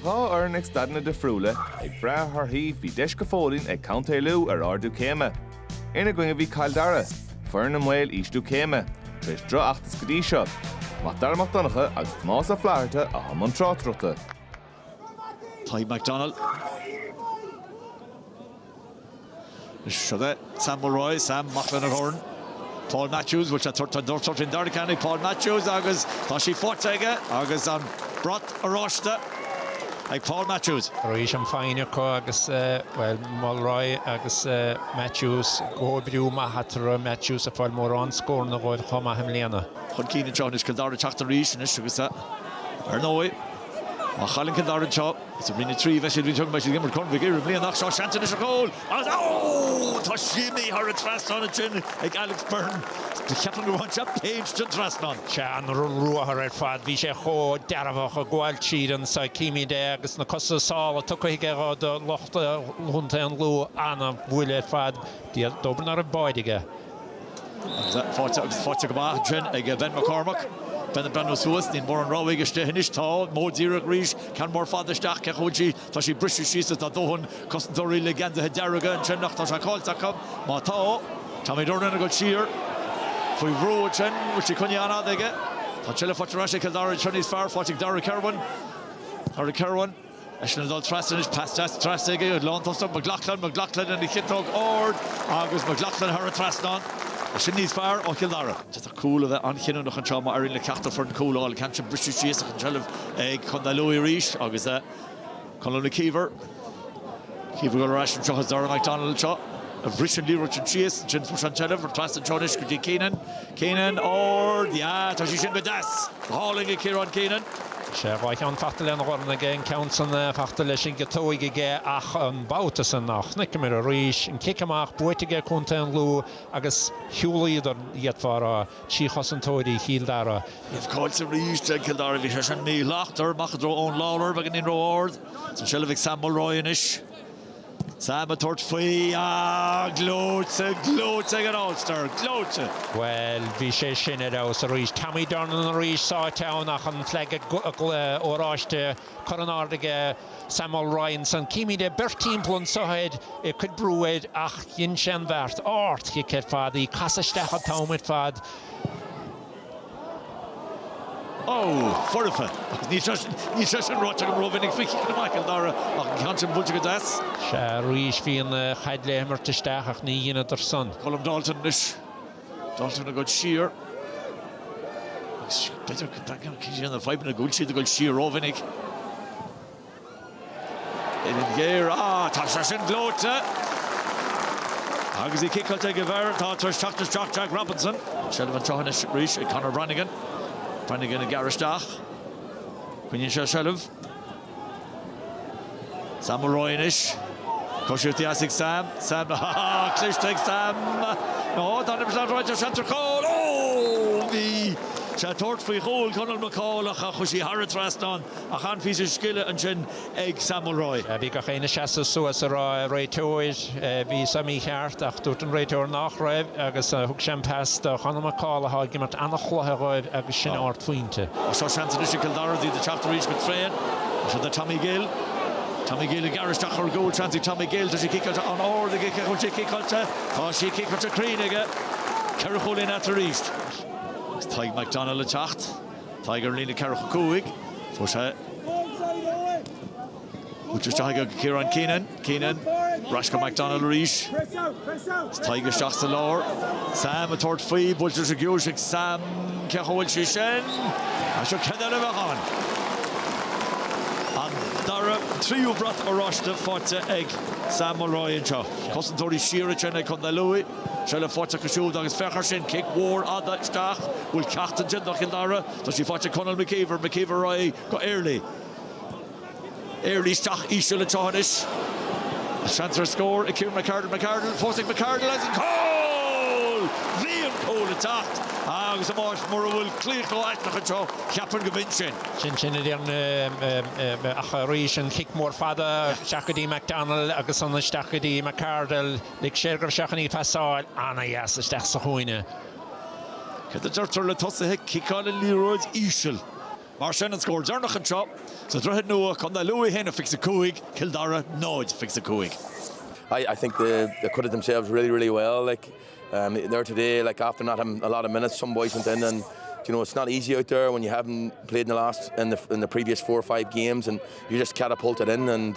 Dhá fhoireann ag staideanna difriúla ag brath ar thorthaí bhí deis go fóillín ag Co. Lú ar ardú céime. Ina gcoinne bhí Cill Dara, foireann i mbaol ísliú céime, tar éis droch-fheachtas go dtí seo. Mac Dara Mac Donncha agus Tomás Ó Flatharta atá i mbun tráchtaireachta. Tadhg McDonnell. Seo é. Sam Mulroy, Sam amach lena dhorn. Paul Matthews, bhuail sé tortán dubh, tortín dair a cheannaigh Paul Matthews agus tá sí faighte aige agus an brat oráiste ag Paul Matthews. Arís an foighne acu agus, bhuel, Mulroy agus Matthews, comhoibriú maith eatarthu, Matthews ag fáil mórán scóranna dhóibh chomh maith i mbliana. Chun cinn anseo anois, Cill Dara ag teacht arís anois agus, ar ndóigh, má chailleann Cill Dara anseo, Is i roinn a trí a bheidh siad. Bhí siad ag imirt Corn Mhig Uidhir i mbliana ach seo seans anois ar chúl agus tá sí imithe thar an trasnán ansin ag Alex Beirne. Cheapfainn gur bhain sé péint den trasnán. Sea, an ruathar ar fad, bhí sé chomh dearfach ag gabháil tríd ansan címid é agus na cosa sála tugtha aige do lucht Chontae an Lú, an-bhuille ar fad. Dóbair ná raibh báide aige. Agus faighte agus faighte go maith ansin ag Ben McCormack. Ben ag breathnú suas, níl mórán rogha aige istigh anois. Tá, modh díreach arís, ceann mór fada isteach, cé chuige a bhfuil sí, tá sí briste síos is tá dóthain cosantóirí le geansaithe dearga ansin ach tá sé caillte acu. Má tá, Tommy Durnin ag dul siar. Faoi bhrú ansin, bhfuil sí coinnithe an-fhada aige. Tá an tseilbh faighte ar ais ag Cill Dara sin níos fearr, faighte ag Darragh Kirwan. Darragh Kirwan. Eisean ag dul trasna anois, pas deas trasna ag an lántosaí McLoughlin, McLoughlin lena chiotóg ard agus McLoughlin thar an trasnán. Sin níos fearr ó Chill Dara. D'fhéadfadh cúl a bheith an-chinniúnach anseo má éiríonn le ceachtar foireann cúl a fháil. An ceann sin briste síos ach an tseilbh ag Contae Lú arís agus Conall McKeever. McKeever ag dul ar ais anseo is Dara McDonnell anseo a bhris an liathróid sin síos. Ansin fuair sé an tseilbh, trasna anseo anois go dtí Keenan. Keenan, Ard, Yeah, tá sí sin go deas! Go hálainn ag Ciarán Keenan. Sea, dhá cheann fachta lena dhorn aige, an ceann san fachta leis an gciotóig aige ach an babhta san a chonaiceamar arís, an cic amach buaite aige contae an Lú agus shiúlaíodar d'fhéadfá a rá trí chosantóirí Chill Dara. Caillte arís ag Cill Dara, bhí sé sin míshlachtmhar amach i dtreo Eoin Lawlor beagáinín ró-ard san seilbh ag Sam Mulroy anois. Sam ag tabhairt faoi, Ah, gleoite, gleoite ag an All-Star, gleoite! Bhuel, bhí sé sin ar fheabhas arís. Tommy Durnin arís sáite ann ach an flag oráiste curtha in airde aige, Sam Mulroy ansan. Címid é beirt timpeall anso air ag cur brú air ach dhein sé an bheart. Ardchic ar fad í, ag casadh isteach an t-am ar fad. Ó, foirfe! Agus níl sé sin, níl sé sin ráite agam ró-mhinic faoi Chill Dara, ach an ceann sin buailte go deas. Sea, arís bhí an chaid le himirt isteach ach ní dheineadar san. Colm Dalton anois. Dalton ag dul siar. Agus b'fhéidir go dtagann ceann de na fadhbanna go bhfuil siad ag dul siar ró-mhinic. Uillinn ghéar, Á, tá sé sin gleoite! Agus í ciceáilte ag an bhfear atá tar éis teacht isteach, Jack Robinson. An seilbh anseo anois arís ag Conor Brannigan. Brannigan ag gearradh isteach. Coinníonn sé an seilbh. Sam Mulroy anois. Coisíocht dheas ag Sam. Sam, á, cliste ag Sam! Nó, tá an imirt ar aghaidh, seans ar chúl! Ó! Bhí sé ag tabhairt faoi chúl Conall McCaul ach chuaigh sí thar an trasnán. Ach an píosa scile ansin ag Sam Mulroy. Bhí gach éinne ag seasamh suas ag rá réiteoir, bhí seo mícheart ach dúirt an réiteoir nach raibh agus thug sé an pas do Chonall McCaul athá ag imirt an-chluiche dhóibh agus sin ardphointe. Seo seans anois ag Cill Dara iad ag teacht arís go tréan. Seo do Tommy Gill. Tommy Gill ag gearradh isteach ar gcúl. Seans ag Tommy Gill. Tá sé ciceáilte an-ard aige. Cén chaoi a bhfuil sé ciceáilte? Tá sé ciceáilte cruinn aige. Ceithre chúilín atá ann arís. Tadhg McDonnell ag teacht. Tadhg ar líne ceithre chúig. Fuair sé í, isteach aige go Ciarán Keenan. Keenan ar ais go McDonald arís. Tadhg isteach sa lár. Sam ag tabhairt faoi, buailte go deas ag Sam cá bhfuil sí sin. Ó seo ceann eile, beidh ann. An dara, tríú brat oráiste faighte ag Sam Mulroy anseo. Cosantóirí siar ansin ag Contae Lú. seilbh faighte acu siúd agus féach air sin, cic mhór fhada isteach go bhfuil ceacht ansin do Chill Dara, tá sí faighte ag Conall McKeever, McKeever ar aghaidh go Earley, Earley isteach íseal anseo anois, seans ar scór ag Kieran McArdle, McArdle fós ag McArdle agus an cúl! Bhí an cúl ag teacht agus ambaist mura bhfuil claochló aisteach anseo cheapfainn gurb in sin. sin sin ach arís an chic mhór fhada isteach go dtí McDonnell agus ansin isteach go dtí McArdle. Lig sé gur sheachain í pasáil an-deas isteach sa chúinne. Cad a deirtear le tosaithe ciceáil an liathróid íseal? Mar sin, an scór deireanach anseo, sa Droichead Nua, Contae Lú 1 a fix 5, Cill Dara 0 a fix 5. I I think the the quit it themselves really really well like um there today like after not having a lot of minutes some boys went in and you know it's not easy out there when you haven't played in the last in the in the previous four or five games and you just catapulted in and